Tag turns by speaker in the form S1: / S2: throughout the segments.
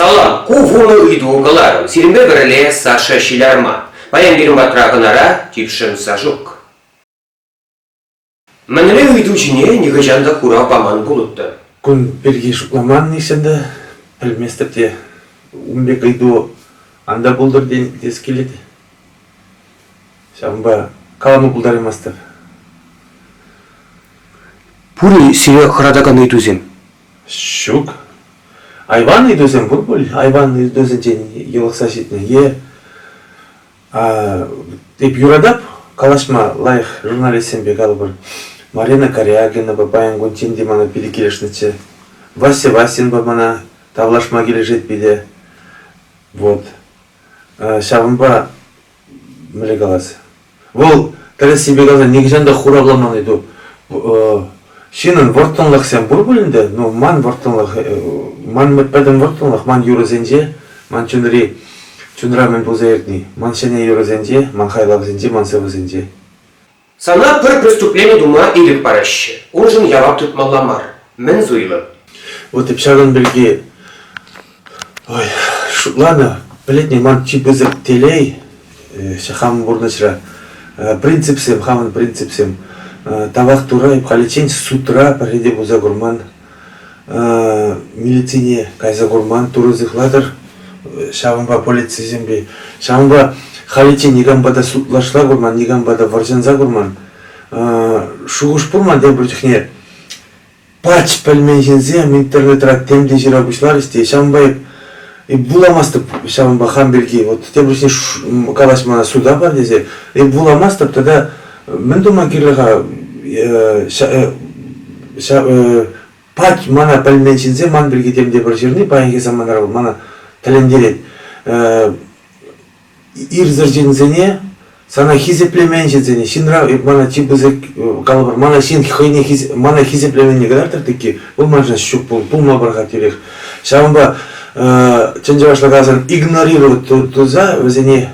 S1: Салам, ку вунӑ ыйту кӑларӑм. Сирӗнпе пӗрле Саша Ҫилярма. Паян пирӗн патра хӑнара типшӗм Сашук. Мӗнле ыйту ҫине нихӑҫан та хурав паман пулӑттӑм. Кун пирки
S2: шутламан-и ӗнтӗ? Пӗлместӗп те. Ун пек ыйту ан та пултӑр тен, тес килет. Ҫавӑнпа калама пултараймастӑп.
S1: Пур-и сире хӑратакан ыйтусем? Ҫук.
S2: Айван ыйтусем пур пуль. Айван ыйтусенчен йӑлӑхса ҫитнӗ е а, эп юратап калаҫма лайӑх журналистсемпе калӑпӑр. Марина Корягинапа паян кун тем те мана питӗ килӗшнӗччӗ. Вася Васинпа мана тавлашма килӗшет питӗ. Вот. Ҫавӑнпа Мӗнле калас? Вӑл тӗрӗссипе каласан нихӑҫан та хуравламан эту. Ҫынӑн вӑрттӑнлӑхсем пур пулин те, ну, ман вӑрттӑнлӑх, ман пӗтӗм вӑрттӑнлӑх ман юрӑсенче, ман чунри, чунра мӗн пулса иртни, ман ҫӗнӗ юрӑсенче, ман хайлавсенче, ман сӑвӑсенче. Сана
S1: пӗр преступлени тума ирӗк параҫҫӗ, уншӑн явап тытмалла мар. Мӗн суйлӑ? Вот и ҫакӑн
S2: пирки, ой, шутланӑ, пӗлетне ман чи пысӑк телей, хамӑн пурнӑҫра принципсем, хамӑн принципсем тавах турайӑп халиччен судра пӗрре те пулса курман милицине кайса курман, турӑ сыхлатӑр, ҫавӑнпа полицисемпе, ҫавӑнпа халиччен никампа та судлашла курман, никампа та вӑрҫӑнса курман. Шухӑш пурман тепӗр чухне пач пӗлмен ҫынсем интернетра тем те ҫыра пуҫларӗҫ те ҫавӑнпа эп вуламастӑп ҫавӑнпа хам пирки вот тепӗр чухне калаҫ мана суда пар тесе эп вуламастӑп тата мӗн тума кирлӗ-ха пать мана пӗлмен ҫынсем ман пирки тем те пӗр ҫырни паянхи саманара вӑл мана тӗлӗнтерет ирсӗр ҫынсене сана хисеплемен ҫынсене ҫынра мана чи пысӑк калӑпӑр мана ҫын хӑйне мана хисеплеменни кӑтартӑр тӗкки вӑл маншӑн ҫук пулма пӑрахать тӳрех ҫавӑнпа чӑн чӑвашла каласан игнорировать туса вӗсене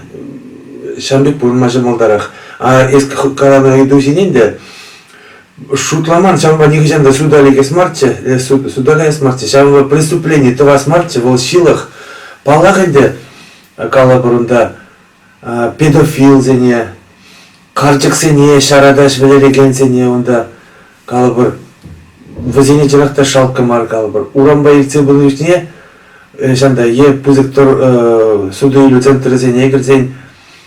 S2: ҫам пек пурӑнма ҫӑмӑлтарах А если каланӑ ыйтусене те шутламан, ҫавӑнпа нихӑҫан та суда лекес марччӗ, э, суда каяс марччӗ, ҫавӑнпа преступлени тӑвас марччӗ, вӑл ҫылӑх. Паллах ӗнтӗ, калӑпӑр унта, педофилсене, карчӑксене, ҫаратаҫ вӗлерекенсене унта, калӑпӑр, вӗсене чӑнах та шалккӑ мар калӑпӑр. Урампа иртсе пынӑ чухне ҫанта е пысӑк тор, суту-илӳ центрӗсене кӗрсен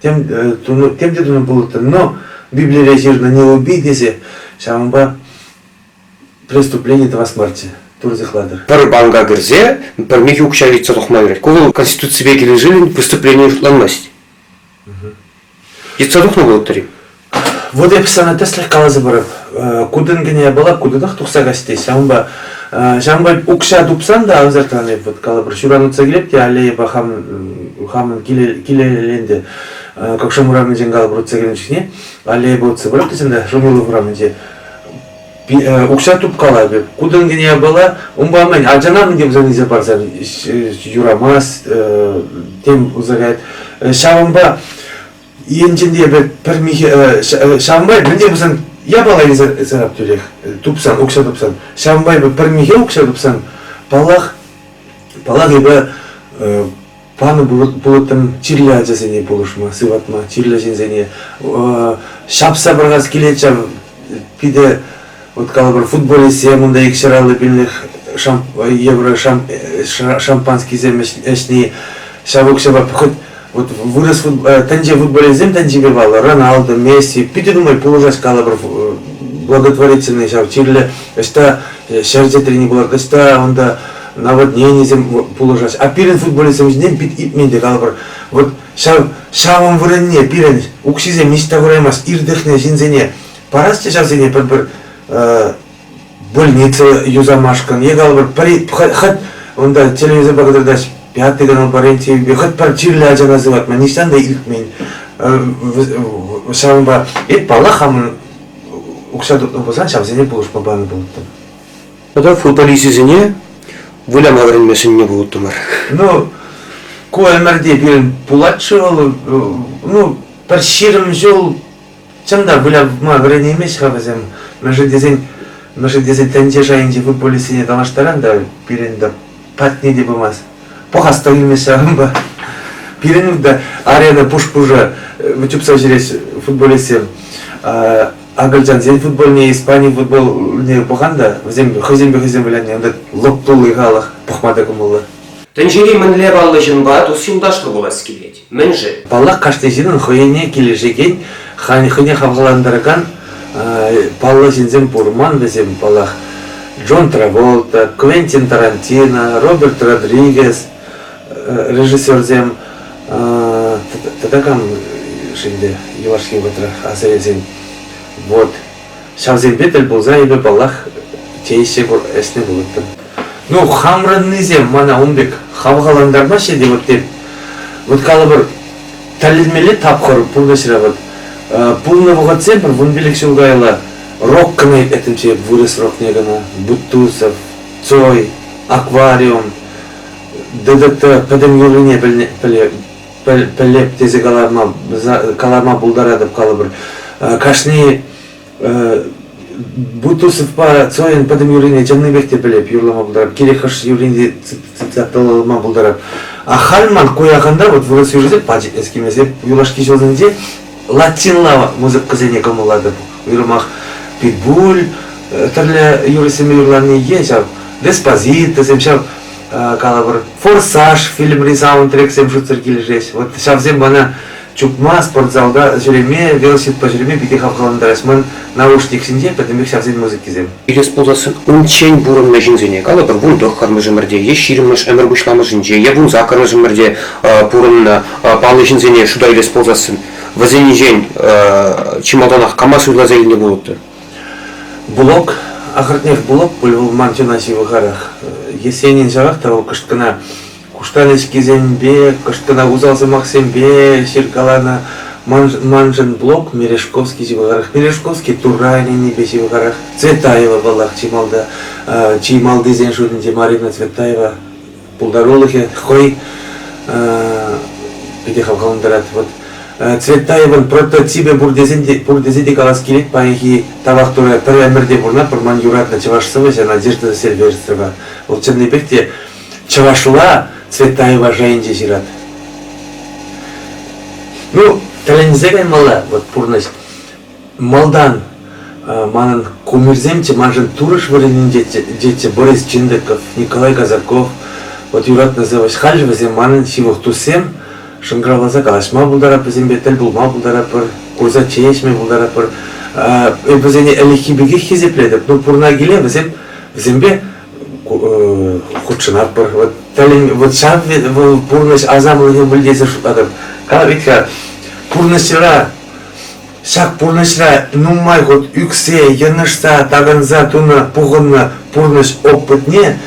S2: тем тунӑ тем те тунӑ пулӑттӑм, но Библире ҫырнӑ не убий тесе ҫавӑнпа преступлени тӑвас марччӗ пур сыхлатӑр. Пӗр банка кӗрсе
S1: пӗр михӗ укҫа ыйтса тухма юрать. Ку вӑл Конституципе килӗшӳллӗн преступление шутланмасть. Йӑтса тухнӑ пулӑттӑр-и? Вот я
S2: постоянно тӗслӗх каласа парап. Кутӑн кӗне япала кутӑтах тухса касти. Ҫавӑнпа ҫавӑнпа укҫа тупсан та обязательно эп вот калапӑр ҫуранутса килеп те аллейӑпа хам хамӑн килеленте какшам урамӗнчен калапӑр утса килнӗ чухне аллейӑпа утса пыратчӗ та Шумилов урамӗнче укҫа тупкала пек кутӑн кӗне япала унпа мӗн ачана мӗн те пулсан илсе парсан юрамас тем пулса каять ҫавӑнпа енчен те эпӗ пӗр михе ҫавӑнпа мӗн те пулсан япала илсе тӳрех тупсан укҫа тупсан ҫавӑнпа эпӗ пӗр михе укҫа тупсан паллах паллах эпӗ панӑ пулӑттӑм чирлӗ ачасене пулӑшма сыватма чирлӗ ҫынсене ҫапса пӑрахас килет ҫав питӗ Уткалӑпӑр футболистсем унта икҫӗр аллӑ пиллӗк шамп евро шамп, шампанскисем ӗҫни ҫав укҫапа хӑть вот вырос футбол, тӗнче футболистсем тӗнчипе паллӑ Роналду, Месси питӗ нумай пулӑшать калӑпӑр благотворительный ҫав чирлӗ ӑҫта ҫӗр чӗтрени пулать ӑҫта унта наводненисем пулӑшаҫҫӗ а пирӗн футболистсем ҫинчен пит илтмен те калӑпӑр вот ҫав ҫавӑн вырӑнне пирӗн укҫисем ниҫта кураймасть иртӗхнӗ ҫынсене Парасчӗ ҫавсене пӗр-пӗр больница юсамашкӑн е калӑпӑр пӗри хӑть унта телевизорпа кӑтартаҫ Пятый канал по РЕН-ТВ хӑть пӗр чирлӗ ачана сыватма нихҫан та илтмен. Ҫавӑнпа эп паллах хамӑн укҫа тупнӑ пулсан ҫавсене пулӑшма панӑ пулӑттӑм. Тата
S1: футболисчӗсене выляма вӗренме сӗннӗ пулӑттӑмӑр. Ну,
S2: ку ӗмӗрте пирӗн пулать-ши вӑл? Ну, пӗр ҫирӗм ҫул Чӑн та вылятма вӗренеймест-ха вӗсем. Мӗншӗн тесен, мӗншӗн тесен тӗнче шайӗнчи футболистсене тавлаштаран та пирӗн та патне те пымасть. Пӑхас та килмест ҫавӑнпа. Пирӗн та арена пуш-пушӑ э, чупса ҫӳреҫ футболистсем. Акӑлчансен футбольне, Испани футболне пӑхан та, вӗсем хӑйсемпе хӑйсем вылянни унта лӑп тулли халӑх пӑхма та кӑмӑллӑ. Тӗнчери мӗнле
S1: паллӑ ҫынпа тус-юлташлӑ пулас килет? Мӗн-ши? Паллах, кашни ҫынӑн
S2: хӑйне килӗшекен, хӑйне хавхалантаракан паллӑ ҫынсем пур. Ман вӗсем, паллах, Джон Траволта, Квентин Тарантино, Роберт Родригес режиссерсем тата кам-ши ӗнтӗ юлашки вӑхӑтра асра илсен? Вот Ҫавсемпе тӗл пулса эпӗ, паллах, тееҫҫӗ пур, ӗҫлӗ пулӑттӑм. Ну, хамрӑннисем мана ун пек хавхалантармаҫҫӗ те вот эп. Вот калӑпӑр, тӗллемелле тапхӑр пурнӑҫра вот. Пулнӑ вӑхӑтсем пӗр вунпилӗк ҫул каялла рок кӑна этӗмче вырӑс рокне кӑна Бутусов, Цой, Аквариум, ДДТ пӗтӗм юррине пӗлнӗ, пӗле, пӗлеп тесе каларма, каларма пултаратӑп калӑпӑр. Кашни Бутусовпа Цоин пӗтӗм юррине чӑннипех те пӗлеп, юрлама пултарап, кирек хӑш юррине цитаталама пултарап. А халь ман ку яханта вот вырӑс юррисем пачӑк эскимесе юлашки ҫулсенче латинла музыкӑсене кӑмӑллатӑп. Уйрӑмах питбуль э, тӗрлӗ юрӑсене юрлани ен ҫав, деспозитӑсем ҫав калӑпӑр «Форсаж» фильмри саундтрексем шутсӑр килӗшеҫ. Вот ҫавсем мана чупма, спортзалта ҫӳреме, велосипедпа ҫӳреме питӗ хавхалантарать. Ман наушник ҫинче пӗтӗмпех ҫавсен музыкисем. Ирес пулсассӑн
S1: унччен пурӑннӑ ҫынсене, калӑпӑр, вун тӑххӑрмӗш ӗмӗрте е ҫирӗммӗш ӗмӗр пуҫламӑшӗнче, е вун саккӑрмӗш ӗмӗрте пурӑннӑ паллӑ ҫынсене шута илес пулсассӑн, вӗсеннинчен чи малтанах кама суйласа илнӗ пулӑттӑр? Булок,
S2: ахӑртнех, булок пуль вӑл ман чуна ҫывӑхарах. Есенин ҫавах та вӑл кӑшкӑна куштанӗҫкисемпе, кӑшкӑна усал сӑмахсемпе ҫыркаланӑ. Маншӑн блок Мережковский ҫывӑхарах, Мережковский Турра ӗненнипе ҫывӑхарах. Цветаева, паллах, чи малти, чи малтисен шутӗнче Марина Цветаева. пултарулӑхӗ хӑй питӗ хавхалантарать. Вот Цветаевӑн прототипӗ пур тесен те, пур тесе те калас килет паянхи тавах Турӑ пӗр ӗмӗрте пурӑнатпӑр ман юратнӑ чӑваш сӑвӑҫӗ Надежда Сильвестрова вӑл чӑннипех те чӑвашла Цветаева шайӗнче ҫырать. Ну, тӗлӗнсе каймалла вот пурнӑҫ. Малтан манӑн кумирсемччӗ, маншӑн турӑш вырӑнӗнче тетчӗ Борис Чиндыков, Николай Казаков. Вот юратнӑ сӑвӑҫ халӗ вӗсем манӑн ҫывӑх туссем. Шӑнкӑравласа калаҫма пултарап вӗсемпе, тӗл пулма пултарапӑр, курса чей пултарапӑр. Эп вӗсене ӗлӗкхи пекех хисеплетӗп. Ну, пурӑна киле вӗсем вӗсемпе хутшӑнатпӑр. Вот тӗлӗн, вот ҫав вӑл пурнӑҫ асамлӑхӗ вӗлтесе шутлатӑп. Как ведь пурнӑҫра Ҫак пурнӑҫра нумай хут ӳксе, йӑнӑшса, такӑнса тунӑ пухӑннӑ пурнӑҫ опытне,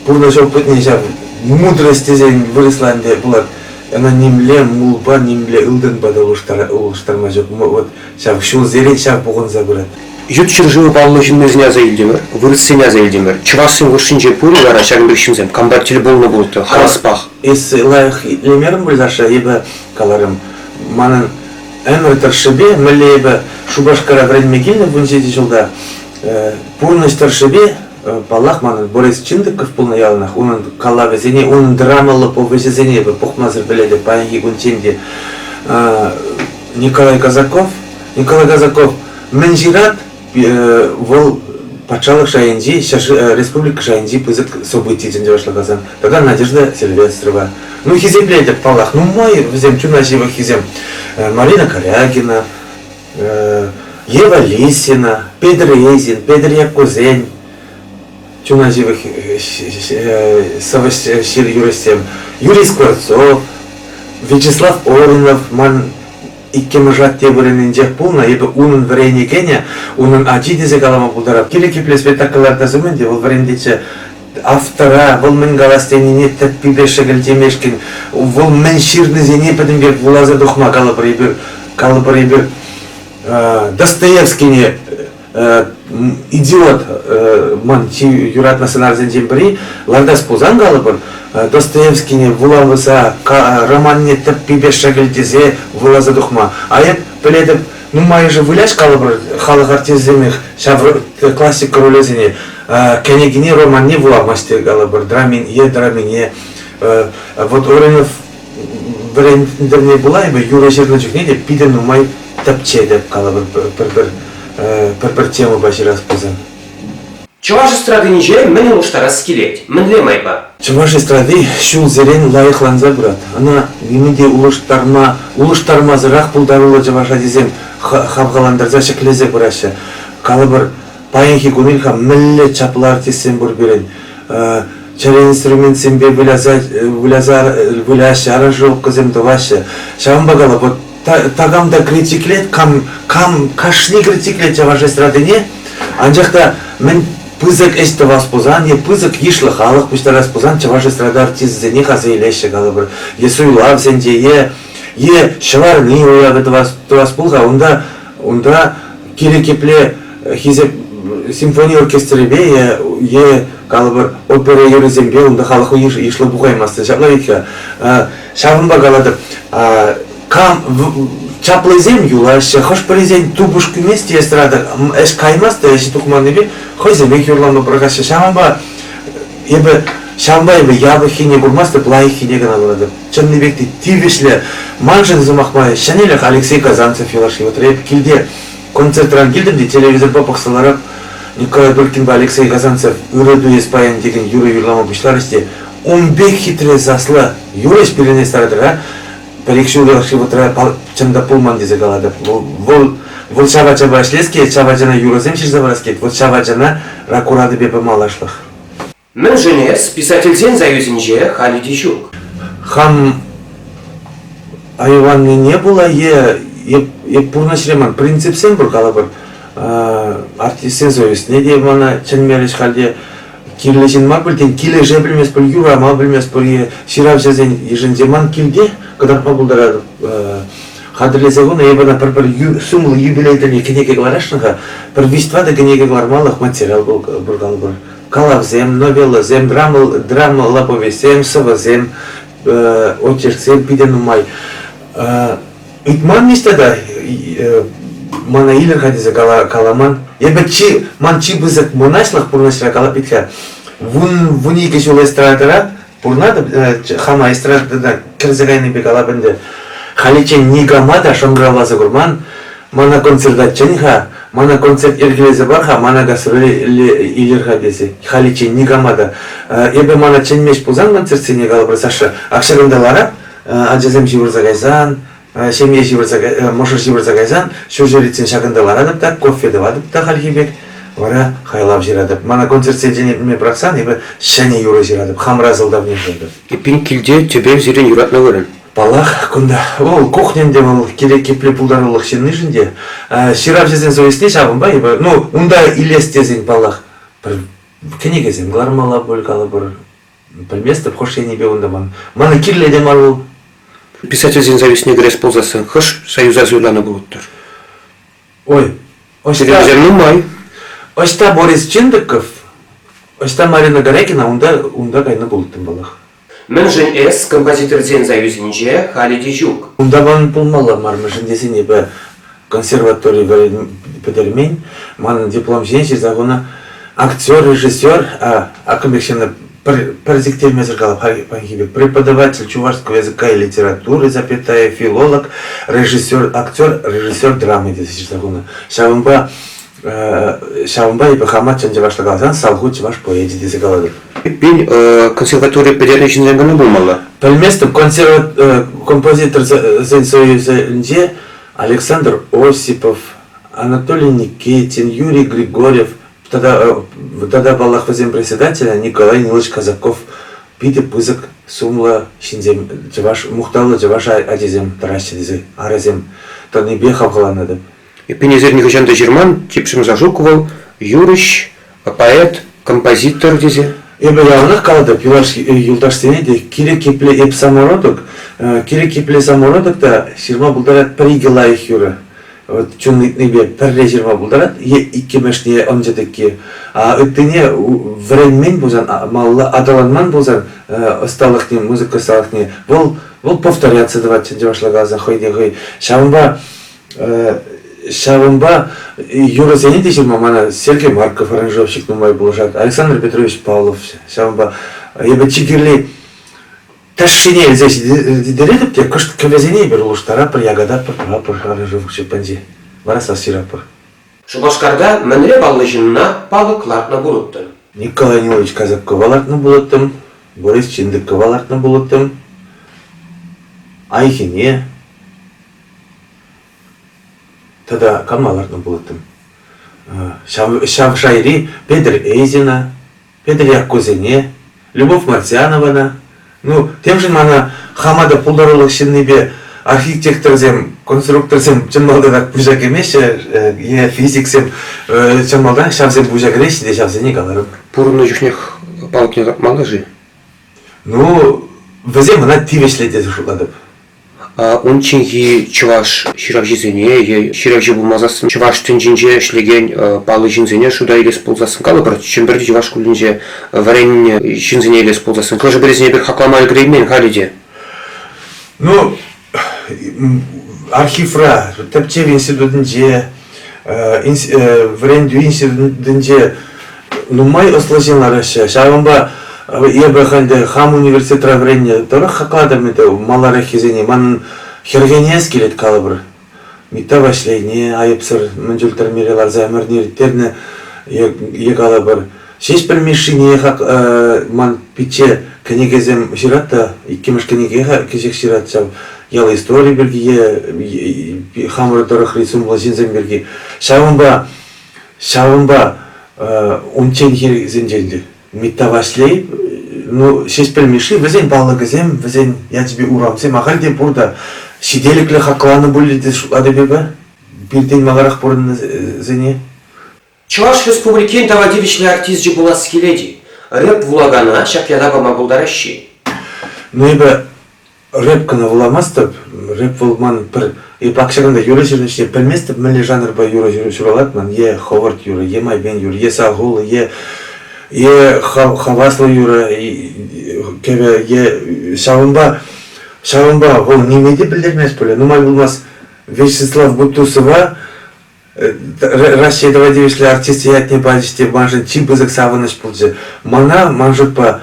S2: пурнӑҫ опытне ҫав мудрость тесен вырӑсла ӗнтӗ пулать, ӑна нимле мулпа, нимле ылтӑнпа та улӑштарма ҫук. Вот ҫав ҫулсерен ҫав пухӑнса пырать. Ют ҫӗршыву
S1: паллӑ ҫыннисене аса илтӗмӗр, вырӑссене аса илтӗмӗр. Чӑвашсен хушшинче пур-и вара ҫакӑн пек ҫынсем? Кампа тӗл пулнӑ пулӑттӑр, хаваспах. Эсӗ лайӑх
S2: итлемерӗн пуль, Саша, эпӗ каларӑм. Манӑн ӗмӗр тӑршшӗпе, мӗнле эпӗ Шупашкара вӗренме килнӗ вун ҫичӗ ҫулта, пурнӑҫ тӑршшӗпе, паллах, манӑн Борис Чиндыков пулнӑ яланах, унӑн калавӗсене, унӑн драмаллӑ повеҫӗсене эпӗ пухмасӑр пӗлетӗп паянхи кунччен те. Николай Казаков, Николай Казаков мӗн ҫырать, вӑл патшалӑх шайӗнчи, республика шайӗнчи пысӑк событие чӗнсе башлакасан тата Надежда Сильвестрова. Ну, хисеплетӗп, паллах. Нумай вӗсем чуна ҫывӑххисем. Марина Корягина, Ева Лисина, Петр Резин, Петр Яккусен, чуна ҫывӑх сӑвӑҫ ҫыр юрӑҫсем, Юрий Скворцов, Вячеслав Орнов, ман Иккӗмӗш атте вырӑнӗнчех пулнӑ, эпӗ унӑн вӗренекенӗ, унӑн ачи тесе калама пултарап. Кирек епле спектакль лартас умӗн те вӑл вӗрентетчӗ, автора, вӑл мӗн калас тенине тӗппипе шӗкӗлтемешкӗн, вӑл мӗн ҫырнисене пӗтӗм пек вуласа тухма калӑпӑр эпир, калӑпӑр эпир Достоевскине идиот ман чи юратнӑ сӑнарсенчен пӗри лартас пулсан калӑпӑр Достоевскине вулавӑса романне тӗппипе шӗкӗлтесе вуласа тухма а эп пӗлетӗп нумайӑшӗ выляҫ калӑпӑр халӑх артисчӗсемех ҫав классика ролӗсене кӗнекине романне вуламасть те калӑпӑр драмин е драмине вот Оринов вӗрентнӗ пулай бы юрӑ ҫырнӑ чухне те питӗ нумай тӗпчетӗп калӑпӑр пӗр-пӗр пӗр-пӗр темӑпа ҫырас пулсан. Чӑваш
S1: эстрадинче мӗн улӑштарас килет? Мӗнле майпа? Чӑваш эстради
S2: ҫулсерен лайӑхланса пырать. Ӑна ниме те улӑштарма, улӑштармасӑрах пултаруллӑ чӑваш ачисем хавхалантарса ҫӗклесе пыраҫҫӗ. Калӑпӑр, Паянхи кун ильха мӗнле чаплӑ артистсем пур пирӗн. Чӗре инструментсемпе выляса, выляса, выляҫҫӗ, аранжировкӑсем тӑваҫҫӗ. Ҫавӑнпа кала, вот такам та критиклет, кам, кам кашни критиклет чӑваш эстрадине, анчах та мӗн пысӑк ӗҫ тӑвас пулсан е пысӑк йышлӑ халӑх пуҫтарас пулсан чӑваш эстрада артисӗсенех аса илеҫҫӗ калӑпӑр е суйлавсенче е, е ҫӑварни уявӗ тӑвас, тӑвас пул-ха унта Унта кирек епле хисеп симфони оркестрӗпе е, е калӑпӑр, опера юррисемпе унта халӑх йышлӑ пухаймастӑн. Ҫавна пек ҫавӑнпа калатӑп, кам чаплисем юлаҫҫӗ, хӑш-пӗрисен тупӑш кӳмест те эстрада, ӗҫ каймасть та ӗҫ тухманнипе хӑйсемех юрлама пӑрахаҫҫӗ. Ҫавӑнпа эпӗ ҫавӑнпа эпӗ япӑххине курмастӑп, лайӑххине кӑна куратӑп. чӑнни пек те тивӗҫлӗ. Маншӑн сӑмах май ҫӗнӗлӗх Алексей Казанцев юлашки вӑхӑтра эп килте концертран килтӗм те телевизорпа пӑхса ларап Николай Быркинпа Алексей Казанцев ырӑ туес паян текен юрӑ юрлама пуҫларӗҫ те ун пек хитре саслӑ юрӑҫ пирӗне стартрра пӗр-ик ҫул юлашки вӑхӑтра чӑн та пулман тесе калатӑп. Вӑл, вӑл, вӑл ҫав ачапа ӗҫлес килет, ҫав ачана юрӑсем ҫырса парас килет. Вот ҫав ачана ракуратипе пымаллашлӑх. Мӗншӗн
S1: эс писательсен союзӗнче халӗ те ҫук? Хан
S2: айваннине пула е, е, е пурнӑҫри ман принципсем пур калӑпӑр, артистсен союзне те мана чӗнмерӗҫ халӗ. Кирлӗ ҫын мар пуль, тен, килӗше пӗлместпӗр, юрама пӗлместпӗр е ҫыравҫӑсен йышӗнче ман килте кӑтартма пултаратӑп. Хатӗрлесе хунӑ эпӗ ӑна пӗр-пӗр сумлӑ юбилей тӗлне кӗнеке кӑларасшӑн-ха, пӗр виҫ-тӑватӑ кӗнеке кӑлармалӑх материал пур калӑпӑр. калавсем, новеллӑсем, драма, повестсем, сӑвӑсем, очерксем питӗ нумай. Ыйтман-мис тата мана илер-ха тесе кала, каламан. Эпӗ чи, ман чи пысӑк мӑнаҫлӑх пурнӑҫра калап ит-ха. Вун, вун икӗ ҫул эстрадӑра Пурнатӑп хама эстрадӑна кӗрсе кайнипе калап ӗнтӗ. Халиччен никама та шӑнкӑравласа курман. Мана концертаччен-ха, мана концерт йӗркелесе пар-ха, мана гастроле илер-ха тесе. Халиччен никама та. Эпӗ мана чӗнмест пулсан концертсене калапӑр, Саша, ак ҫакӑнта лара, ачасем ҫывӑрса кайсан, ҫемье ҫывӑрса мӑшӑр ҫывӑрса кайсан ҫурҫӗритсен ҫакӑнта ларатӑп та кофе тӑватӑп та хальхи пек вара хайлав ҫыратӑп мана концертсенчен пӑрахсан эпӗ ҫӗнӗ юрӑ ҫыратӑп хамӑра сӑлтавне пултӑп эппин килте
S1: тӗпев сирӗн юратнӑ вырӑн паллах кунта
S2: вӑл кухньӑн те вӑл кирек епле пултарулӑх ҫыннишӗн те ҫыравҫӑсен совестьне ҫавӑнпа эпӗ ну унта илес тесен паллах пӗр кӗнекесем кӑлармалла пуль калӑпӑр Пӗлместӗп, хӑш енӗпе унта ман. Мана кирлӗ те мар вӑл. Писательсен
S1: зависне кӗрес пулсассӑн хӑш союза суйланӑ пулӑттӑр?
S2: Ой, ӑҫта... Серьезен
S1: нумай. Ӑҫта
S2: Борис Чиндыков, ӑҫта Марина Горякина, унта, унта кайнӑ пулӑттӑм вӑлах. Мӗншӗн эс
S1: композиторсен союзӗнче халӗ те ҫук? Унта ман пулмалла
S2: мар, мӗншӗн тесен эпӗ консерватори пӗтермен. Манӑн диплом ҫине ҫырса хунӑ актер, режиссер, акӑмекҫӗне пӗр, пӗр сиктермесӗр калап паянхи пек преподаватель чувашского языка и литературы запятая филолог, режиссер, актер, режиссер драмы тесе ҫырса хунӑ. Ҫавӑнпа Ҫавӑнпа эпӗ хама чӑн чӑвашла каласан салху чӑваш поэчӗ тесе калатӑп. Эппин,
S1: консерватори пӗтернӗ ҫынсем кӑна пулмалла. Пӗлместӗм,
S2: композиторсен союзӗнче Александр Осипов, Анатолий Никитин, Юрий Григорьев тата, тата паллах, вӗсен председателӗ Николай Нилович Казаков питӗ пысӑк сумлӑ ҫынсем, чӑваш, мухтавлӑ чӑваш ачисем тӑраҫҫӗ тесе арӑсем тӑнипе хавхаланатӑп. Эппин, эсир
S1: нихӑҫан та ҫырман, типшӗм Сашук вӑл юрӑҫ, поэт, композитор тесе. Эпӗ
S2: яланах калатӑп, юлашки юлташсене те кирек епле эп самородок, кирек епле самородок та ҫырма пултарать пӗр-икӗ лайӑх юрӑ. Вот чун ыйтнипе пӗрре ҫырма пултарать е иккӗмӗшне ӑнчӗ тӗкки. А ыттине вӗренмен пулсан, малалла аталанман пулсан ӑсталӑхне, музыка ӑсталӑхне вӑл вӑл повторяться тӑвать чӑн чӑвашла каласан хӑй те хӑй. Ҫавӑнпа Ҫавӑнпа юрӑсене те ҫырма мана Сергей Марков аранжировщик нумай пулӑшать, Александр Петрович Павлов. Ҫавӑнпа эпӗ чи кирли ташшине илсе ҫитеретӗп те кӑшт кӗвӗсене эпир улӑштаратпӑр, якататпӑр, тӑватпӑр аранжировка ҫеппинче. Вара сас ҫыратпӑр. Шупашкарта
S1: мӗнле паллӑ ҫынна палӑк лартнӑ пулӑттӑн? Николай Нилович
S2: Козябкова лартнӑ пулӑттӑм, Борис Чиндыкова лартнӑ пулӑттӑм, Айхине тата кама лартнӑ пулӑттӑм? Ҫав, ҫав шайри Петр Эзина, Петӗр Яккусене, Любовь Мартьянована, ну, темшӗн мана хама та пултарулӑх ҫыннипе архитекторсем, конструкторсем чӑн малтанах пуҫа кӗмеҫҫӗ е физиксем чӑн малтан ҫавсем пуҫа кӗреҫҫӗ те ҫавсене каларӑм. Пурӑннӑ чухнех
S1: палкине тӑратмалла-ши? Ну,
S2: вӗсем ӑна тивӗҫлӗ тесе шутлатӑп.
S1: Унчченхи чӑваш ҫыравҫисене е ҫыравҫӑ пулмасассӑн чӑваш тӗнчинче ӗҫлекен паллӑ ҫынсене шута илес пулсассӑн, калӑпӑр, Чӗмпӗрти чӑваш шкулӗнче вӗреннӗ ҫынсене илес пулсассӑн, хӑшӗ-пӗрисене эпир хаклама ӗлкӗреймен халӗ те.
S2: Ну, архивра, тӗпчев институтӗнче вӗрентӳ институтӗнче нумай ӑслӑ ҫын лараҫҫӗ. Ҫавӑнпа эпӗ халь те хам университетра вӗреннӗ тӑрӑх хаклатӑп ӗнтӗ малараххисене. Манӑн хӗрхенес килет калӑпӑр. Митта Ваҫлейне айӑпсӑр мӗн чуль тӗрмере ларса ӗмӗрне ирттернӗ е калӑпӑр Ҫеҫпӗл Мишшине хак ман пичче кӗнекесем ҫырать та, иккӗмӗш кӗнеке кӗҫех ҫырать ҫав. Ял истории пирки, хамӑр тӑрӑхри сумлӑ ҫынсем пирки. Ҫавӑнпа, ҫавӑнпа унчченхисенчен те Митта Ваҫлей, ну, Ҫеҫпӗл Мишши, вӗсен палӑкӗсем, вӗсен ячӗпе урамсем ахаль те пур та, ҫителӗклӗ хакланӑ пулӗ те шутлатӑп эпӗ пиртен маларах пурӑннисене. Чӑваш
S1: Республикин тава тивӗҫлӗ артисчӗ пулас килет-и? Рэп вулакана ҫак ята пама пултараҫҫӗ-и? Ну
S2: эпӗ рэп кӑна вуламастӑп. Рэп вӑл ман пӗр е пакҫаканта юрӑ ҫырнӑ ӗҫне пӗлместӗп. Мӗнле жанрпа юрӑ ҫуралать ман? Е ховарт юрӑ, е майпен юрӑ, е салхуллӑ, е е хаваслӑ юрӑ кӗвӗ, е ҫавӑнпа ҫавӑнпа вӑл ниме те пӗлтермест пулӗ. Нумай пулмасть Вячеслав Бутусова Россия давай тивӗҫлӗ артисчӗ ятне пачӗҫ те маншӑн чи пысӑк савӑнӑҫ пулчӗ. Мана, ман шутпа,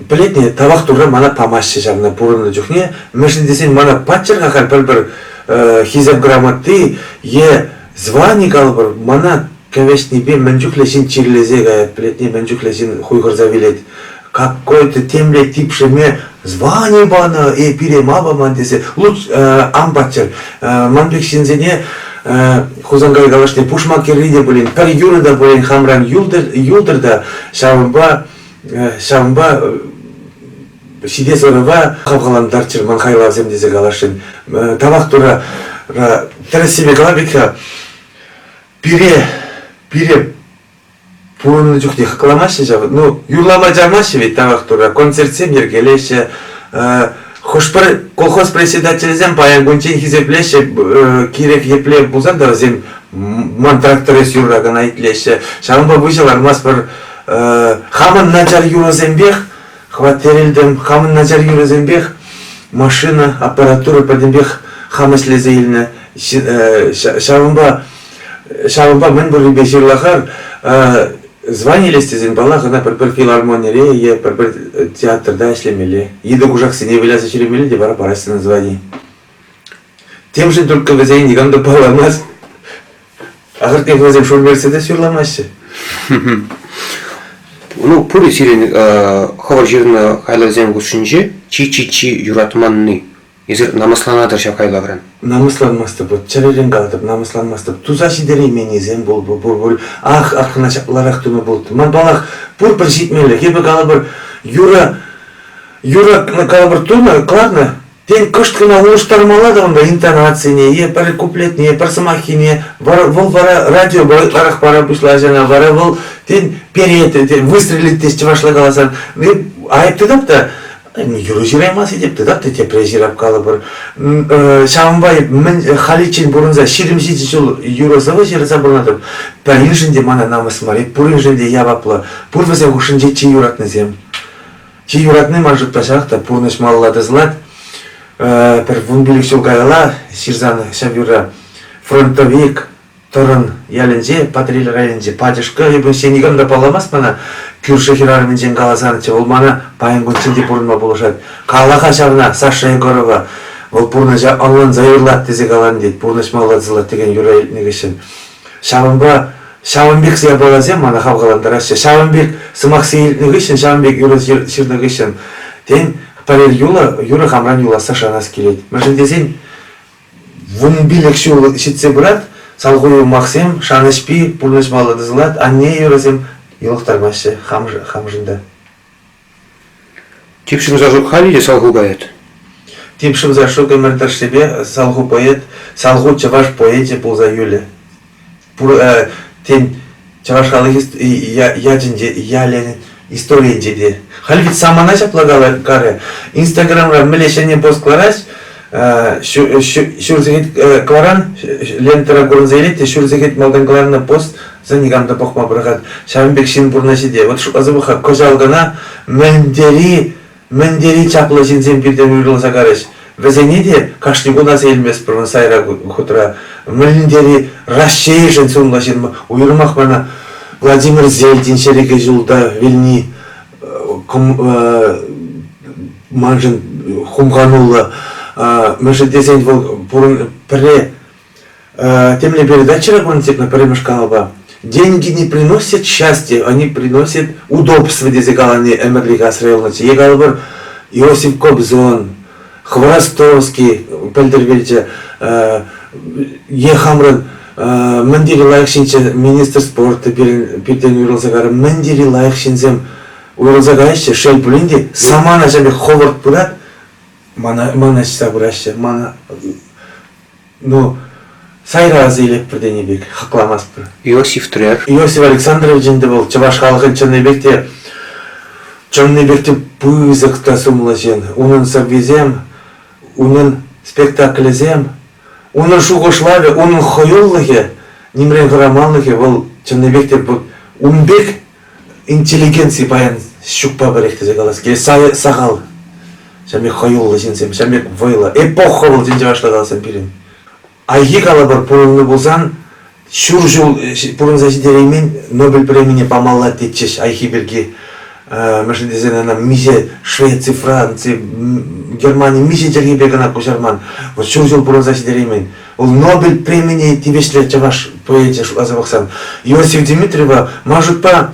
S2: пӗлетне тавах турра мана памаҫҫӗ ҫавна пурӑннӑ чухне, мӗншӗн тесен мана паччӑр-ха халь пӗр-пӗр хисеп грамоти е звани калӑпӑр, мана кӗвӗҫнипе мӗн чухлӗ ҫын чирлесе каять, пӗлетне мӗн чухлӗ ҫын хуйхӑрса вилет. какой-то темле типшеме звани панӑ, э, пире мапаман тесе, лут, э, ан паттер, э, ман пек ҫынсене Хусанкай калашне пушма кӗрри те пулин, пӗр юрӑ та пулин хамран юлтӑр та, ҫавӑнпа, ҫавӑнпа ҫитес ӑрӑва хавхалантарччӑр ман хайлавсем тесе каласшӑн. Тавах тура тӗрӗссипе кала пек-ха, пире, пире Пурӑннӑ чухнех кӑланаҫҫӗ ҫав. Ну, юрлама чармаҫҫӗ ведь тавах Турра. Концертсем йӗркелеҫҫӗ. Хӑш-пӗр колхоз председателӗсем паян кунччен хисеплеҫҫӗ кирек епле пулсан та вӗсем ман трактор эс юрра кӑна итлеҫҫӗ. Ҫавӑнпа выҫӑ лармастпӑр. Хамӑн начар юрӑсемпех хваттерелтӗм, хамӑн начар юрӑсемпех машина, аппаратура пӗтӗмпех хам ӗҫлесе илнӗ. Ҫавӑнпа Ҫавӑнпа мӗн пуррипе ҫырлахар званились тесен, паллах, ӑна пӗр-пӗр филармонире е пӗр-пӗр театрта ӗҫлемелле, йытӑ кушаксене выляса ҫӳремелле те вара параҫҫӗ на звании. Темшӗн только вӗсен никам та палламасть. Ахӑртнех вӗсем шур-мерседес юрламаҫҫӗ.
S1: Ну, пурӗ сирӗн хӑвӑр ҫырнӑ хайлавсем хушшинче чи-чи-чи юратманни Эсир намӑсланатӑр ҫав хайлавран. Намӑсланмастӑп,
S2: чӗререн калатӑп, намӑсланмастӑп. Туса ҫитерейменнисем пул, пур пуль. Ах, ах, кӑна ҫапларах тума пултӑ. Ман паллах, пурпӗр ҫитмелле. Эпӗ калӑпӑр, юрӑ, юрӑ калӑпӑр тунӑ, кӑларнӑ. Тен, кӑшт кӑна улӑштармалла та унта интонацине е пӗр куплетне, пӗр сӑмаххине. Вӑл, вӑл вара радиопа ытларах пара пуҫлать ӑна, вара вӑл, тен, перет, тен, выстрелит теҫ чӑвашла каласан. Айӑп тытӑп та, юрӑ ҫыраймас этеп тытаттӑ тепре ҫырап калӑпӑр. Ҫавӑнпа мӗн халиччен пурӑнса ҫирӗм ҫичӗ ҫул юрӑ-сӑвӑ ҫырса пынӑтӑп. Пӗриншӗн те мана намӑс мар, пуриншӗн те яваплӑ. Пур вӗсен хушшинче чи юратнисем. Чи юратни ман шутпа ҫак та пурнӑҫ малалла тӑсӑлать. Пӗр вун пилӗк ҫул каялла ҫырсан ҫав юрра фронтовик Тӑрӑн ялӗнче, Патӑрьел районӗнче пачӑшкӑ, эпӗ ӗнтсе никам та палламасть мана. Кӳршӗ хӗрарӑмӗнчен каласан тӗл мана паян кунччен те пурӑнма пулӑшать. Кала-ха ҫавна, Саша Егорова. Вӑл пурнӑҫа ӑнланса юрлать тесе калан, тет, пурнӑҫ малла тӑсӑлать текен юрра илтнӗ хыҫҫӑн. Ҫавӑнпа Ҫавӑн пек япаласем мана хавхалантараҫҫӗ. Ҫавӑн пек сӑмахсем илтнӗ хыҫҫӑн, ҫавӑн пек юрӑ ҫырнӑ хыҫҫӑн, тен, пӗрер юлӑ, юрӑ хамран юласса шанас килет. Мӗншӗн тесен вун пилӗк ҫул ҫитсе пырать, салху-юмахсем, шанӑҫпи, пурнӑҫ паллӑ тӑсӑлать, анне юрӑсем йӑлӑхтармаҫҫӗ хамшӑн та.
S1: Тип шӑн сашук халӗ те салху поэт. Тип шӑн
S2: сашук ӗмӗр тӑршшӗпе салху поэт, салху чӑваш поэчӗ пулса юлӗ. тен, чӑваш халӑхӗ ячӗнче, ялӗн историйӗнче те. Халь вӗт самана ҫапла каларӗ. Инстаграмра мӗнле ҫӗнӗ пост кӑларать, ҫур сехет кӑларан, лентӑра курӑнса илет те ҫур сехет малтан кӑларнӑ пост за никам та пӑхма пӑрахать. Ҫавӑн пек ҫын пурнӑҫӗ те. Вот шутласа пӑх-ха, кӑҫал кӑна мӗн тери Мӗн тери чаплӑ ҫынсем пиртен уйрӑлса карӗҫ. Вӗсене те кашни кун аса илместпӗр сайра хутра. Мӗн тери Раҫҫейшӗн сумлӑ ҫын, уйрӑмах мана Владимир Зельдин чӗрӗкӗ ҫулта вилни маншӑн хумхануллӑ. Мӗншӗн тесен вӑл пурӑн пӗрре Тем не передать вчера коммунистическому пӗрремӗш каналпа. Деньги не приносят счастья, они приносят удобство, тесе калани ӗмӗрлӗх асра юлнӑччӗ. Е калӑпӑр, Иосиф Кобзон, Хворостовский пӗлтермелчӗ, е хамран мӗн тери лайӑх ҫынччӗ министр спорта пирӗн пиртен уйрӑлса карӑм. Мӗн тери лайӑх ҫынсем уйрӑлса каяҫҫӗ. Шел пулин те, самана ҫав пек ховӑрт пырать, мана, мана ҫыса пыраҫҫӗ, мана Ну, сайра аса илетпӗр тенӗ пек, хакламастпӑр. Иосиф Трер.
S1: Иосиф Александрович
S2: ӗнтӗ вӑл чӑваш халӑхӗн чӑнни пек те, чӑнни пек те пысӑк та сумлӑ ҫын. Унӑн сӑввисем, унӑн спектаклӗсем, унӑн шухӑшлавӗ, унӑн хӑюлӑхӗ, нимрен хӑраманлӑхӗ вӑл чӑнни пек те ун пек интеллигенци паян ҫукпа пӗрех тесе калас килет. Сахал. Ҫам пек хӑюллӑ ҫынсем, ҫам пек вӑйлӑ. Эпоха вӑл тин чӑвашла каласан пирӗн. Айхи калӑпӑр пулӑну пулсан ҫур ҫул пурӑнса ҫитереймен Нобель премине памалла тетчӗҫ Айхи пирки. Мӗншӗн тесен ана миҫе Швеци, Франци, Германи миҫе чӗлхепе кӑна куҫарман. Вот ҫур ҫул пурӑнса ҫитереймен. Нобель премине тивӗҫлӗ чӑваш поэчӗ шутласа пӑхсан Иосиф Дмитриева Машутпа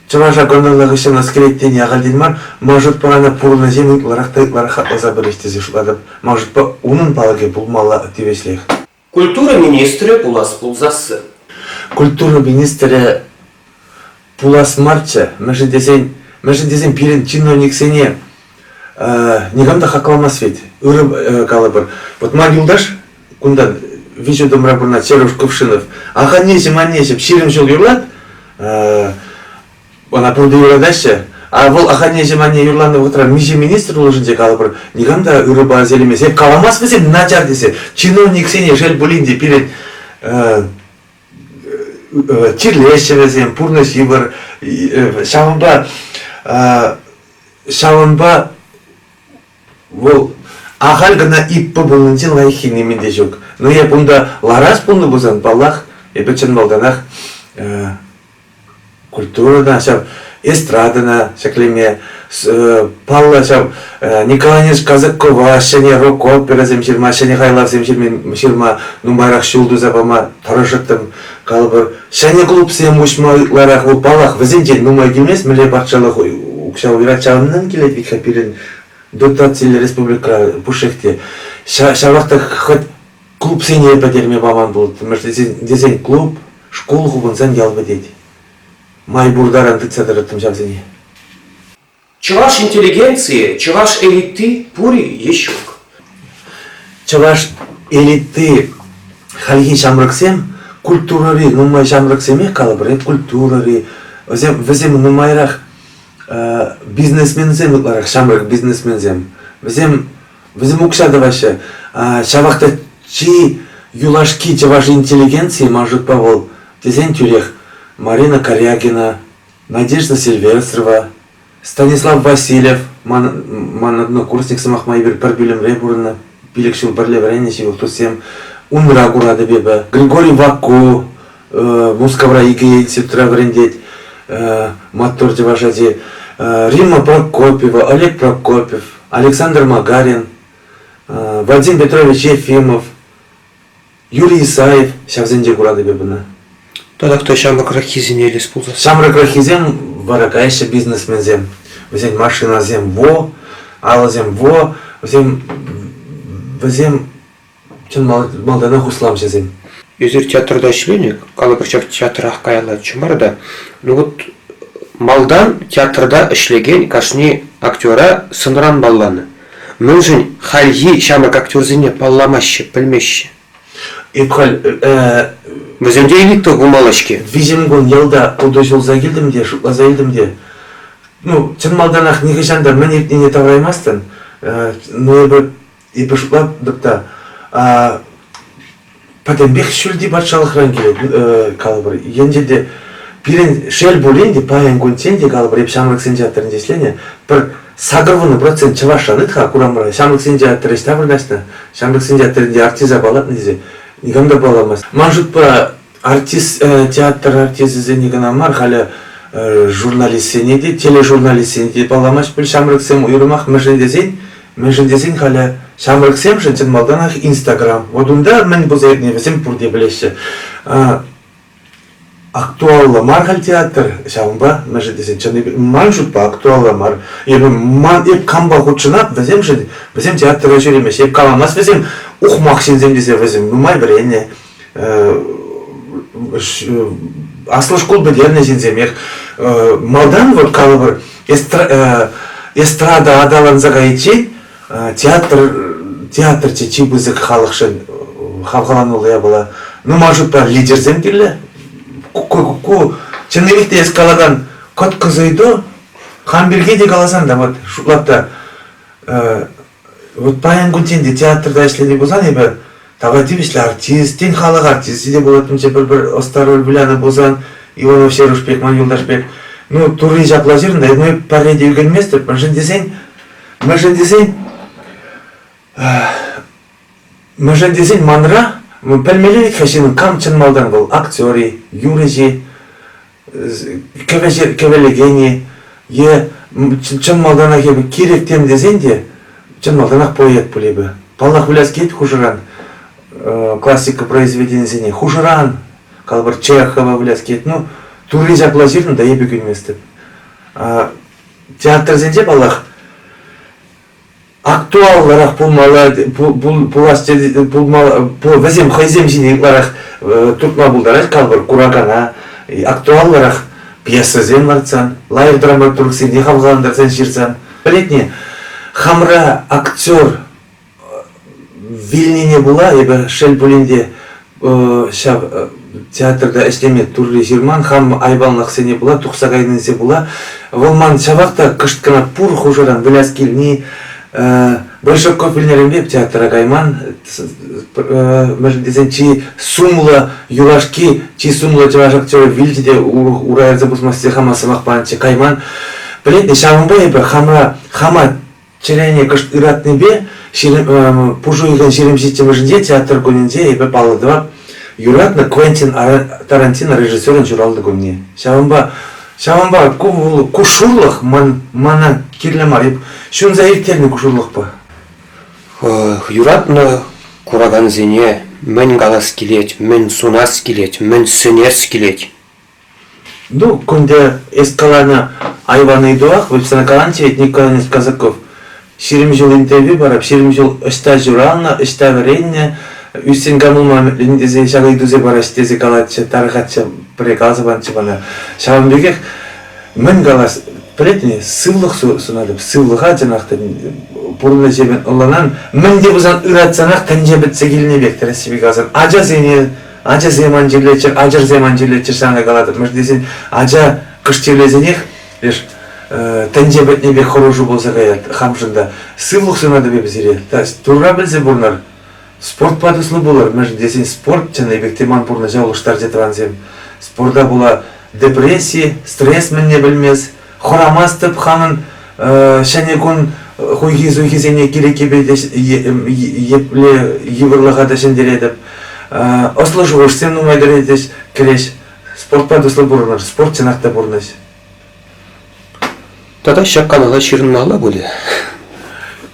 S2: чӑваша гонорла хыҫҫӑн аскелет тени ахальтен мар Машутпа ӑна пурӑнӑҫем ытларах та ытларах хакласа пырӗҫ тесе шутлатӑп. Машутпа унӑн палӑкӗ пулмалла тивӗҫлех. Культура
S1: министрӗ пулас пулсассӑн. Культура
S2: министрӗ пулас марччӗ, мӗншӗн тесен, мӗншӗн тесен пирӗн чиновниксене никам та хакламасть вӗт. Ырӑ калӑпӑр. Вот ман юлташ кунта виҫӗ томра пурӑнать Сереж Кувшинов. Аханнеҫӗм, аннеҫӗм, ҫирӗм ҫул юрлать. Ӑна пурте юратаҫҫӗ. А вӑл аханнеҫӗм анне юрланӑ вӑхӑтра миҫе министр пулӑшӑнчӗ калӑпӑр, никам та ырӑпа ӗселемесем, каламас вӗсем начар тесе, чиновниксене шел пулин те пирӗн чирлеҫҫӗ вӗсем, пурнӑҫ йывӑр. Ҫавӑнпа ҫавӑнпа вӑл ахаль кӑна иппо пулнинче лайӑххи нимӗн те ҫук. Но эп унта ларас пулнӑ пулсан, паллах, эпӗ чӑн малтанах культурӑна ҫав, эстрадӑна ҫӗклеме, паллӑ ҫав Николонец Казакова ҫӗнӗ рок-оперӑсем ҫырма, ҫӗнӗ хайлавсем ҫырма, ҫырма нумайрах ҫул туса пама тӑрӑшӑттӑм. Калӑпӑр, ҫӗнӗ клубсем уҫма ытларах вӑл, паллах, вӗсенчен нумай килмест, мӗнле патшалӑх укҫа уйӑрать, ҫавӑнтан килет вӗт-ха пирӗн дотациллӗ республикӑра пушшех те. Ҫавах та хӑть Клубсене пӗтерме паман пуль, тесен клуб, шкул, хупӑнсан ял пӗтет. Май пур таран тытса тӑрӑттӑм ҫавсене.
S1: Чӑваш интеллигенцийӗ, чӑваш элитти пур-и е ҫук?
S2: Чӑваш элитти хальхи ҫамрӑксем культурӑри нумай ҫамрӑксемех калӑпӑр, культурӑри, вӗсем, вӗсем нумайрах бизнесменсем ытларах, ҫамрӑк бизнесменсем. Вӗсем Вӗсем укҫа тӑваҫҫӗ. Ҫавах та чи юлашки чӑваш интеллигенцийӗ ман шутпа вӑл тесен тӳрех Марина Корягина, Надежда Сильвестрова, Станислав Васильев, ман, ман однокурсник сӑмах май эпир пӗр пӳлӗмре пурӑннӑ, пилӗк ҫул пӗрле вӗреннӗ ҫывӑх туссем, унра куратӑп эпӗ. Григорий Ваку, Мускавра икӗ институтра вӗрентет. Маттур чӑваш ачи. Римма Прокопьева, Олег Прокопьев, Александр Магарин, Вадим Петрович Ефимов, Юрий Исаев ҫавсенче куратӑп эп ӑна. Тата кто
S1: ҫамрӑкраххисене илес пулсан? Ҫамрӑкраххисем
S2: вара каяҫҫӗ бизнесменсем. Вӗсен машинасем во, алӑсем во, вӗсем вӗсем Чӑн малтанах усламҫӑсем. Эсир театрта
S1: ӗҫленӗ, калӑпӑр ҫав театрах каяллачче мар та. Ну вот малтан театрта ӗҫлекен кашни актера сӑнран палланӑ. Мӗншӗн хальхи ҫамрӑк актерсене палламаҫҫӗ, пӗлмеҫҫӗ? Эп халь вӗсемте элита пулмалла-ҫке. Виҫӗм кун ялта
S2: путаҫ юлса килтӗм те, шутласа илтӗм те. Ну, чӑн малтанах нихӑҫан та мӗн иртнине тавӑраймастӑн. Но эпӗ Эпӗшпа та пӗтӗмпех ҫӳлти патшалӑхран килет, калӑпӑр. Енчен те пирӗн, шел пулин те, паян кунччен те, калӑпӑр, эп ҫамрӑксен театрӗнче ӗҫленӗ, пӗр сакӑрвуннӑ процент чӑвашран ыт-ха курамра ҫамрӑксен театрӗ ӑҫта вырнаҫнӑ, ҫамрӑксен театрӗнче артиста паллатнӑ тесе никам та палламасть. Ман шутпа, артист, э, театр артисчӗсене кӑна мар, халӗ э, журналистсене те, тележурналистсене те палламасть пуль ҫамрӑксем уйрӑмах мӗншӗн тесен, мӗншӗн тесен халӗ ҫамрӑксемшӗн чӑн малтанах Инстаграм. Вот унта мӗн пулса иртни вӗсем пурте пӗлеҫҫӗ. Актуаллӑ мар халь театр, ҫавӑнпа мӗншӗн тесен чӑн ман шутпа актуаллӑ мар. Эпӗ ман эп кампа хутшӑнап, вӗсемшӗн вӗсем театра ҫӳремеҫ. Эп каламас вӗсем ухмах ҫынсем тесе вӗсем нумай вӗреннӗ. аслӑ шкул пӗтернӗ ҫынсемех малтан вот калӑпӑр эстрада аталанса кайиччен театр театрчӗ чи пысӑк халӑхшӑн хавхалануллӑ япала ну ман шутпа лидерсем кирлӗ ку чӑннипех те эс калакан кӑткӑс ыйту хам пирки те каласан та вот шутлап та Вот паян кунччен те театрта ӗҫлени пулсан эпӗ тава тивӗҫлӗ артист, тен халӑх артисчӗ те пулатӑнччӗ пӗр-пӗр ӑста роль вылянӑ пулсан, Иванов Серуш пек, ман Юлташ пек. Ну, турри ҫапла ҫырнӑ, эп ну, пӗрре те ӳкӗнместӗп, мӗншӗн тесен, мӗншӗн тесен, мӗншӗн тесен манра, пӗлмелле вӗт-ха ҫынӑн кам чӑн малтан вӑл, актер-и, юрӑҫ-и, кӗвӗлекен-и е чӑн малтанах эпӗ кирек тем тесен те чӑн малтанах поэт пуль эпӗ. Паллах, выляс килет хушӑран классика произведенисене. Хушӑран, калӑпӑр, Чехова выляс килет. Ну, Турри ҫапла ҫырнӑ та эпӗ кӳнместӗп. Театрсенче, паллах, актуаллӑрах пулмалла пулас вӗсем хӑйсем ҫине ытларах туртма пултарать калпӑр куракана актуаллӑрах пьесӑсем лартсан лайӑх драматургсене хавхалантарсан ҫырсан пӗлетне хамра актер Вилнине пула эпӗ шел пулин те ҫав театрта ӗҫлеме Турри ҫырман, хам айванлӑхсене пула тухса кайнинче пула вӑл ман ҫавах та кӑшт кӑна пур хушӑран выляс килни Большой копельнеренпе театра кайман, мӗншӗн тесен чи сумлӑ юлашки, чи сумлӑ чӑваш актерӗ вилчӗ те ура ярса пусмассе хама сӑмах панӑччӗ, кайман. Пӗлетӗн, ҫавӑнпа эпӗ хамра хама Чӗрене кӑшт ыратнипе ҫирӗм, э, пушӑ уйӑхӑн ҫирӗм ҫиччӗмӗшӗнче театр кунӗнче эпӗ паллӑ тӑвап юратнӑ Квентин Тарантино режиссерӑн ҫуралнӑ кунне. Ҫавӑнпа ҫавӑнпа ку вӑл кушурлӑх ман мана кирлӗ мар ҫунса ирттернӗ кушурлӑхпа. Юратнӑ
S1: куракансене мӗн калас килет, мӗн сунас килет, мӗн сӗнес килет.
S2: Ну, кунта эс каланӑ айван ыйтулах, вот сана каланӑ ведь, Николай Казаков. Ҫирӗм ҫул интервью парап, ҫирӗм ҫул ӑҫта ҫуралнӑ, ӑҫта вӗреннӗ, ӳссен канулман тесе ҫак ыйтусем параҫҫӗ тесе калатчӗ, тарӑхатчӗ, пӗрре каласа панччӗ мана. Ҫавӑн пекех мӗн калас, пӗлетӗн сывлӑх сунатӑп, сывлӑха чӑнах та пурнӑҫӗ ӑлланан, мӗн те пулсан ыратсанах тӗнче пӗтсе килнӗ пек тӗрӗс каласан, ачасене Ачасем ан чирлеччӗр, ачӑрсем ан чирлеччӗр, сана калатӑп. Мӗш тесен ача кӑшт чирлесенех, леш тӗнче пӗтнӗ пек хӑрушу пулса каять хамшӑн та. Сывлӑх сунатӑп сире. Турра пӗлсе пурӑнар. Спортпа туслӑ пулӑр, мӗншӗн тесен спорт чӑнни пек те ман пурнӑҫа улӑштарчӗ тӑвансем. Спорта пула депресси, стресс мӗнне пӗлмест, Хӑрамастӑп хамӑн ҫӗнӗ кун хуйхи-суйхисене кирек епле йывӑрлӑха та ҫӗнтеретӗп. Ӑслӑ шухӑшсем нумай кӗретӗҫ, кӗреҫ. Спортпа туслӑ пурӑнӑр, спорт чӑнах та пурнӑҫ.
S1: Тата ҫак канӑва ҫырӑнмалла пулӗ.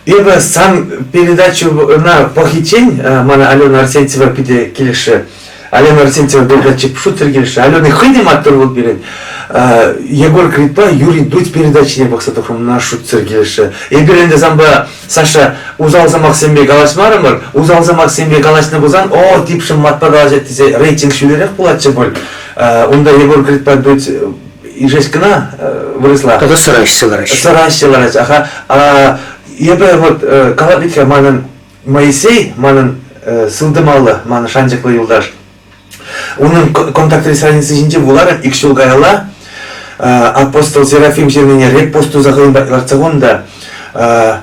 S2: Эпӗ сан передачӑна пӑхиччен мана Алена Арсентьева питӗ килӗшрӗ. Алена Арсентьева передатчик шутер килӗшрӗ. Алена хӑй те маттур вӑл пирӗн. Егор Кридпа Юрий Дудь передачине пӑхса тухрӑм, мана шутсӑр килӗшрӗ. Эпир ӗнтӗ санпа, Саша, усал сӑмахсемпе калаҫмарӑмӑр. Усал сӑмахсемпе калаҫнӑ пулсан, о, типшӗм матпа калаҫать тесе рейтинг ҫӳлерех пулатчӗ пуль. Унта Егор Кридпа Дудь ишес кӑна вырӑсла. Тата сӑраҫҫӗ лараҫҫӗ.
S1: Сӑраҫҫӗ лараҫҫӗ. Аха,
S2: а, эпӗ вот калатлитре манӑн Моисей манӑн сылтӑмаллӑ ман шанчӑклӑ юлташ. Унӑн контактри страница ҫинче вуларӑм ик ҫул каялла апостол Серафим ҫырнине репост туса хӑйӗн патне лартса хунӑ та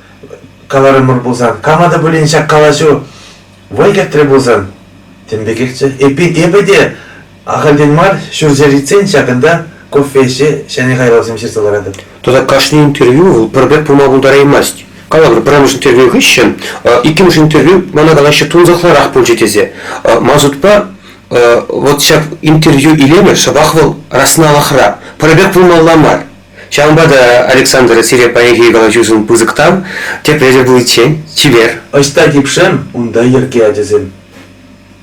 S2: каларӑмӑр пулсан, кама та пулин ҫак калаҫу вӑй кӗртрӗ пулсан, тем пекехчӗ. Эппин, эпӗ те ахальтен мар ҫурҫӗр иртсен ҫакӑнта кофе ӗҫе ҫӗнӗ хайлавсем ҫырса ларатӑп. Тата кашни
S1: интервью вӑл пӗр пек пулма пултараймасть. Калавӑр пӗрремӗш интервью хыҫҫӑн иккӗмӗш интервью мана калаҫҫӗ тунсӑхлӑрах пулчӗ тесе. Ман шутпа, вот ҫак интервью илемӗ шӑпах вӑл расналахра. Пӗр пек пулмалла мар. Ҫавӑнпа та, Александр, сире паянхи калаҫусӑн пысӑк тав,
S2: тепре
S1: те пуличчен, чипер!
S2: Ӑҫта
S1: типшем, унта йӗрке ачасем.